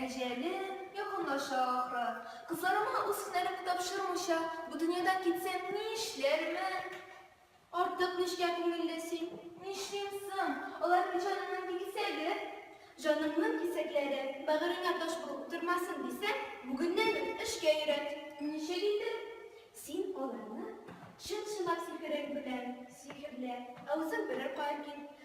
Әҗәле якынлаша ахры. Кызларыма үз һөнәремне тапшырмыйча, бу дөньядан китсәм, нишләрмен? Артык нечкә күңелле син. Нишлим соң? Алар бит җанымның кисәге. Җаныңның кисәкләре бәгыреңә таш булып утырмасын дисәң, бүгеннән үк эшкә өйрәт. Ничек инде? Син аларны чын-чынлап сихерең белән сихерлә, ә үзең берәр кая кит.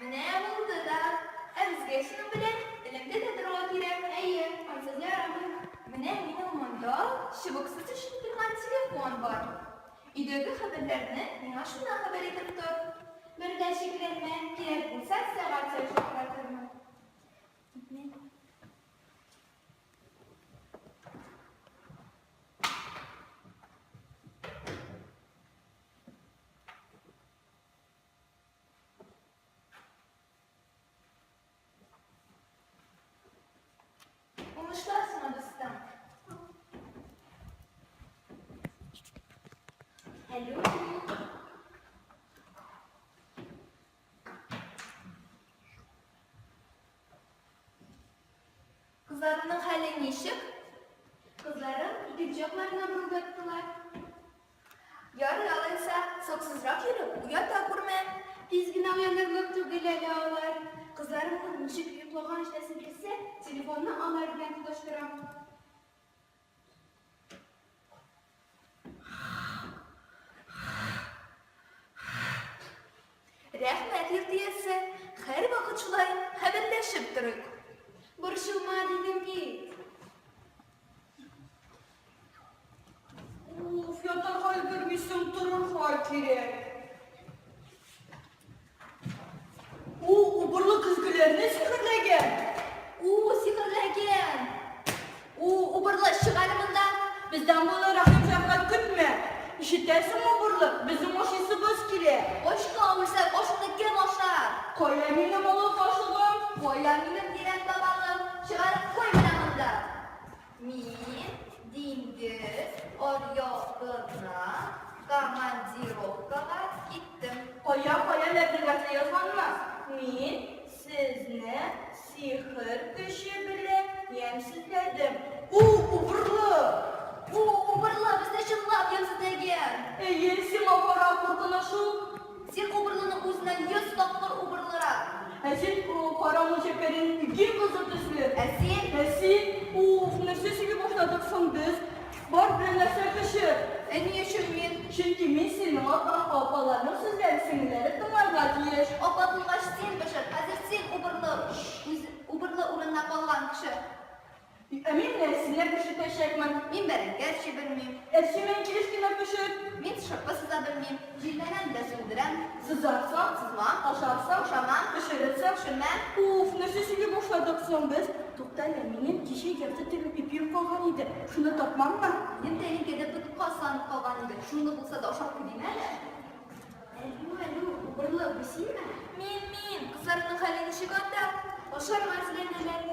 Менә булды да. Ә безгә шуның белән элемтә дә торырга кирәк. Әйе, ансыз ярамый. Менә минем монда чыбыксыз төшеп торган телефон бар. Өйдәге хәбәрләрне миңа шуннан хәбәр итеп тор. Бер дә шикләнмә, кирәк булса, сәгать саен шалтыратырмын. Кызларының хәле ничек? Кызларым икенче якларына борылып яттылар. Ярый алайса, саксызрак йөрү, уята күрмә. Тиз генә уянырлык түгел әле алар. Кызларымның ничек йоклаган җиләсен белсәм, телефонны алар белән тоташтырам. Рәхмәт, йорт иясе. Һәрвакыт шулай хәбәрләшеп торыйк. Борчылма, дидем бит. Уф, ятарга өлгермисең, торырга кирәк. У, убырлы көзгеләрне сихерләгән. У, сихерләгән. У, убырлы, чык әле монда. Бездән моны рәхим-шәфкать көтмә. Ишетәсеңме, убырлы, безнең ашыйсыбыз килә. Очка үрсәк, ашны кем ашар? Кая минем олы кашыгым? Кая минем тирән табагым? Чыгарып куй менә монда. Мин диңгез аръягына командировкага киттем. Кая, кая нәбигатьле язганмы? Мин сезне сихер көче белән ямьсезләдем. У, убырлы! У, убырлы, безне чынлап ямьсезләгән! Әйе, сиңа карап куркыныч ул. Син убырлыны үзеннән йөз тапкыр убырлырак. Ә син, у, кара мунчәккәдән ике кызыл төсле. Ә син? Ә син, у, нәрсә сөйли башладык соң без? Бар белән нәрсә пешер? Ә ни өчен мин? Чөнки мин синең атаң, апаларның сүзләрен сеңелләре тыңларга тиеш. Апа туйгач син пешер, хәзер син убырлы. Үзе, убырлы урынына калган кеше. Бик әмин дә, сине пешетәчәкмен, мин бәрәңге әрчи белмим. Әрчи мин килеш кенә пешер, мин шырпы сыза белмим, җилләнән дә сүндерәм. Сызарсаң, сызмам, ашарсаң, ашамам, пешерерсәң, пешермәм. Уф, нәрсә сөйли башладык соң без? Тукта әле, минем кичә ярты тәгә ипием калган иде, шуны тапмаммы? Минем тәлинкәдә тоткан сандык калган иде, шуны булса да ашап куйдыйм әле. Әлү, әлү, убырлы, бу синме? Мин, мин, кызларның хәле ничек анда? Ашарга эзләнәләр.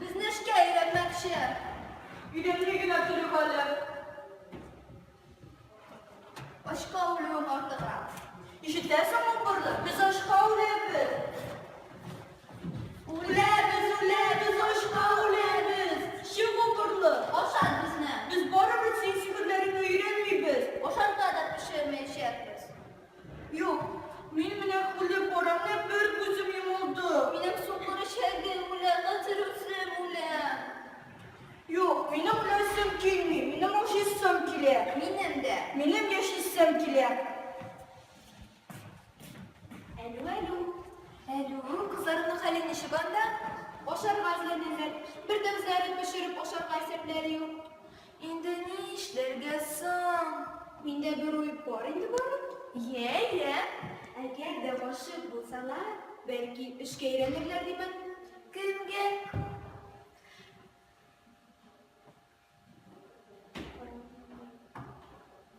Безне эшкә өйрәтмәкче. Өйрәтми генә торыйк әле. Ачка үлүем артыграк. Ишетәсеңме, Бурлы? Без ачка үләбез. Үләбез, үләбез, ачка үләбез. Чыгу, Бурлы, ашат безне. Без барыбер син сихерләреңне өйрәнмибез. Ашарга да пешермәячәкбез. Юк, мин менә үлеп барам, бер күзем йомылды. Минем сукыр чәгем үлә, хәзер үзем үләм. Юк, минем үләсем килми, минем ашыйсым килә. Минем дә. Минем яшисем килә. Әлү, әлү, әлү, кызларының хәле ничек анда? Ашарга эзләнәләр. Бер дә үзләрен пешереп ашарга исәпләре юк. Инде ни эшләргә соң? Миндә бер уй бар инде бары. Йә, йә. Әгәр дә гашыйк булсалар, бәлки, эшкә өйрәнерләр димен. Кемгә?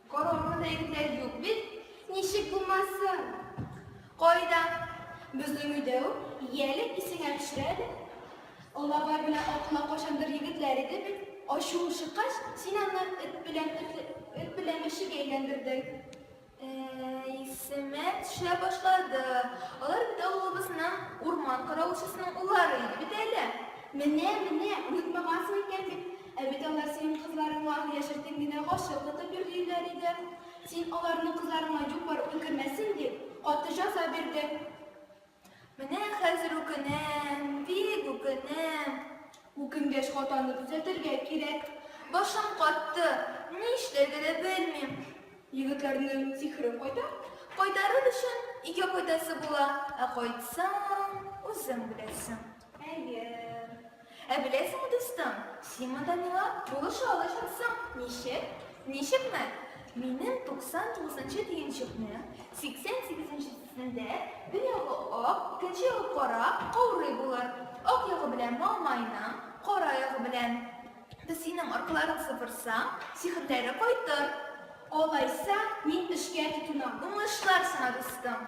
Кораллы бәйгеләр юк бит, ничек булмасын? Кайда? Безнең өйдә үк, яле исеңә төшер әле. Олабай белән Акнак кайчандыр егетләр иде бит. Ачуың чыккач, син аны эт белән эт белән мәчегә әйләндердең. Исемә төшә башлады. Алар бит авылыбызның урман каравылчысының уллары иде бит әле. Менә, менә, онытмагансың икән бит. Ә бит алар синең кызларыңа яшертен генә гашыйк тотып йөрлиләр иде. Син аларның кызларыңа юк-бар уй кермәсен дип, каты җәза бирдең. Менә хәзер үкенәм, бик үкенәм. Үкенгәч, хатаны төзәтергә кирәк. Башым катты, ни эшләргә дә белмим. Егетләрнең сихере кайда? Кайтарыр өчен, өйгә кайтасы була, ә кайтсаң, үзең беләсең. Әйе. Ә беләсеңме, дустым, син монда миңа булыша алачаксың. Ничек? Ничекме? Минем 99-нчы төенчекне 88-нчесендә бер ягы ак, икенче ягы кара каурый булыр. Ак ягы белән Мамайна, кара ягы белән без синең аркыларың сыпырсаң, сихерләре кайтыр. Алайса, мин эшкә тотынам. Уңышлар сиңа, дустым.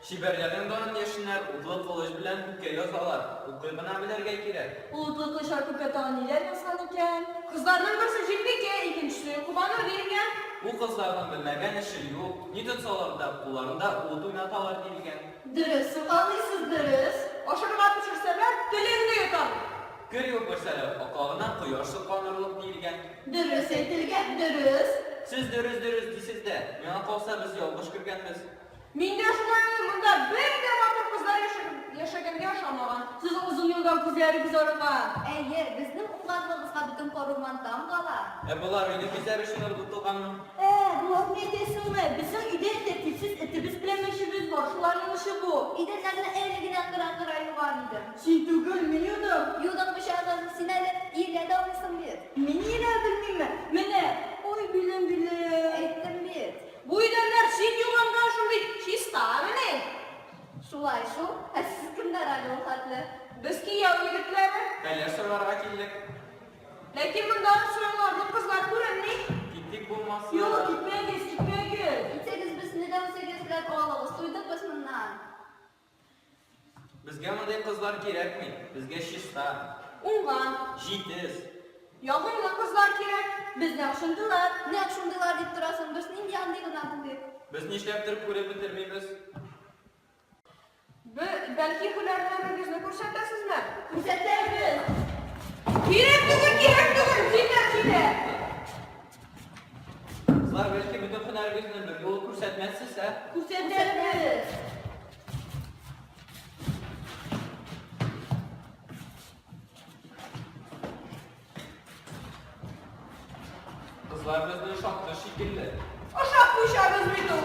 Чибәрләрнең данын яшеннәр утлы кылыч белән күккә язалар. Укый гына белергә кирәк. Ул утлы кылычлар күккә тагын ниләр язган икән? Кызларның берсе Җилбикә, икенчесе Кубанур диелгән. Бу кызларның белмәгән эше юк, ни тотсалар да, кулларында ут уйнаталар диелгән. Дөрес сукалыйсыз, дөрес. Ашарга пешерсәләр, телеңне йотарлык. Кер юпырсәләр, аклагына кояш сокланырлык диелгән. Дөрес әйтелгән, дөрес. Сез дөрес-дөрес дисез дә, миңа калса, без ялгыш кергәнбез. Мин дә шулай ул, монда бер дә матур кызлар яшәгәнгә ошамаган. Сез озын юлдан күзләрегез арыга. Әйе, безнең уңганлыгыбызга бөтен Коруман таң кала. Ә болар өйне бизәр өчен ыргытылганмы? Ә, боларны әйтәсеңме? Безнең өйдә тәртипсез этебез белән мәчебез бар, шуларның эше бу. Идәннәрне әле генә кыра-кыра юган идем. Син түгел, мин юдым. Юдың пычагын, син әле иелә дә алмыйсың бит. Мин иелә белмимме? Менә, ой, билем, билем. Әйттем бит. Бу идәннәр син юганда шундый чистамыни? Шулай шул. Ә сез кемнәр әле ул хәтле? Без кияү егетләре. Хәлләр сорарга килдек. Ләкин монда чуарларның кызлары күренми. Китик булмаса. Юк, китмәгез, китмәгез. Китсәгез, безне дә үзегез белән алыгыз. Туйдык без моннан. Безгә мондый кызлар кирәкми. Безгә чиста. Уңган. Җитез. Ягымлы кызлар кирәк. Безгә ошындылар. Нәкъ шундыйлар дип торасың. Без нинди андый гына булыйк? Без нишләптер күреп бетермибез. Б, бәлки һөнәрләрегезне күрсәтәсезме? Күрсәтәбез. Кирәк түгел, кирәк түгел, китә, китә. Кызлар, бәлки бөтен һөнәрегезне бер юлы күрсәтмәссез, ә? Күрсәтәбез! Кызлар безне ошатты шикелле. Ашап куйшабыз бит ул!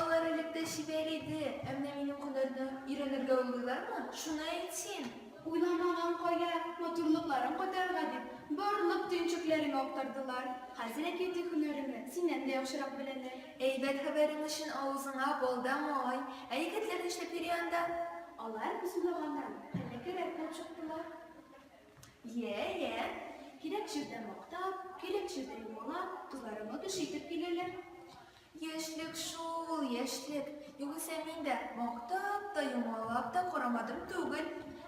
Алар элек тә чибәр иде, ә менә минем һөнәрне өйрәнергә уйлыйлармы, шуны әйт син! Уйламаган кая, матурлыкларын кайтарырга дип, барлык төенчекләремә актардылар. Хәзер әкияти һөнәремне синнән дә яхшырак беләләр. Әйбәт хәбәрең өчен авызыңа бал да май! Ә егетләр нишләп йөри анда? Алар без уйлаганнан хәйләкәррәк булып чыктылар. Йә, йә, кирәк җирдә мактап, кирәк җирдә юмалап, туйларыңны төши итеп киләләр. Яшьлек шул, яшьлек. Югыйсә мин дә мактап та, юмалап та карамадым түгел.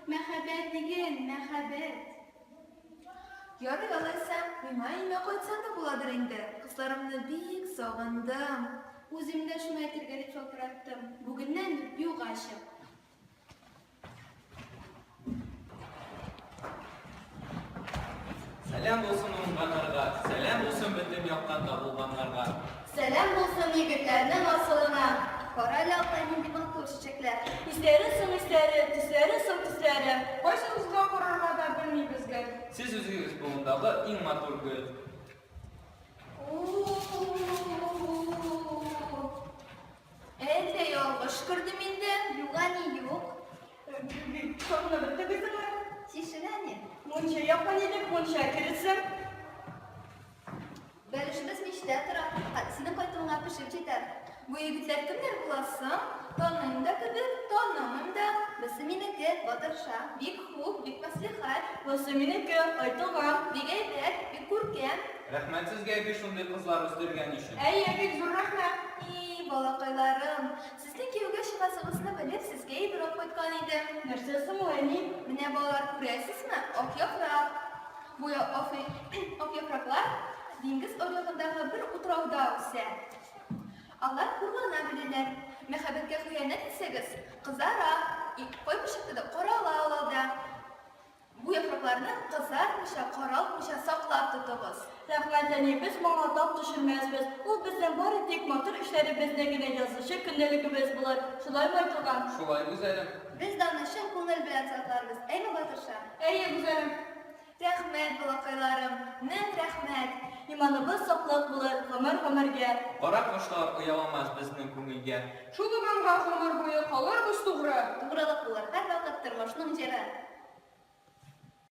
Мәхәббәт диген, мәхәббәт. Ярый алайса, миңа өемә кайтсам да буладыр инде. Кызларымны бик сагындым. Үзем дә шуны әйтергә дип шалтыраттым. Бүгеннән юк ачык. Сәлам булсын уңганнарга, сәлам булсын бөтен яктан табылганнарга. Сәлам булсын егетләрнең асылына. Кара ялта нинди матур чәчәкләр. Исләре соң исләре, төсләре соң төсләре. Кайсы үзгә карарга да белмибез гел. Сез үзегез болындагы иң матур гөл. Әллә ялгыш күрдем инде? Юк, әни, юк. Сокны беттегезме? Тишен, әни. Мунча якын идек, мунча кересем. Бәлешебез мичтә тора. Хәт синең кайтуыңа пешеп җитәр. Бу егетләр кемнәр буласың? Таныйм да кебек, танымыйм да. Берсе минеке, батырша, бик хуп, бик мәслихәт. Берсе минеке, айтылган. Бик әйбәт, бик күркәм. Рәхмәт сезгә әби шундый кызлар үстергән өчен. Әй, әбик, зур рәхмәт! И-и, балакайларым, сезнең кияүгә чыгасыгызны белеп, сезгә ибрап кайткан идем. Нәрсә соң ул, әни? Менә, балалар, күрәсезме, ак яфрак. Бу ак яфраклар диңгез аръягындагы бер утрауда үсә. Алар хурлана беләләр. Мәхәббәткә хыянәт итсәгез, кызара, кайбер чакта да карала ул алда. Бу яфракларны кызартмыйча, каралтмыйча саклап тотыгыз. Рәхмәт, әни, без моңа тап төшермәсбез. Ул безнең бары тик матур эшләребездә генә язучы көндәлегебез булыр. Шулаймы, Айтуган? Шулай, гүзәлем. Без дә аны чын күңел белән сакларбыз. Әйме, батырша? Әйе, гүзәлем. Рәхмәт, балакайларым. Мең рәхмәт. Иманыбыз саклык булыр гомер-гомергә. Карак кошлар ояламас безнең күңелгә. Шул иманга гомер буе калырбыз тугры. Тугрылык булыр һәрвакыт тормышның җыры.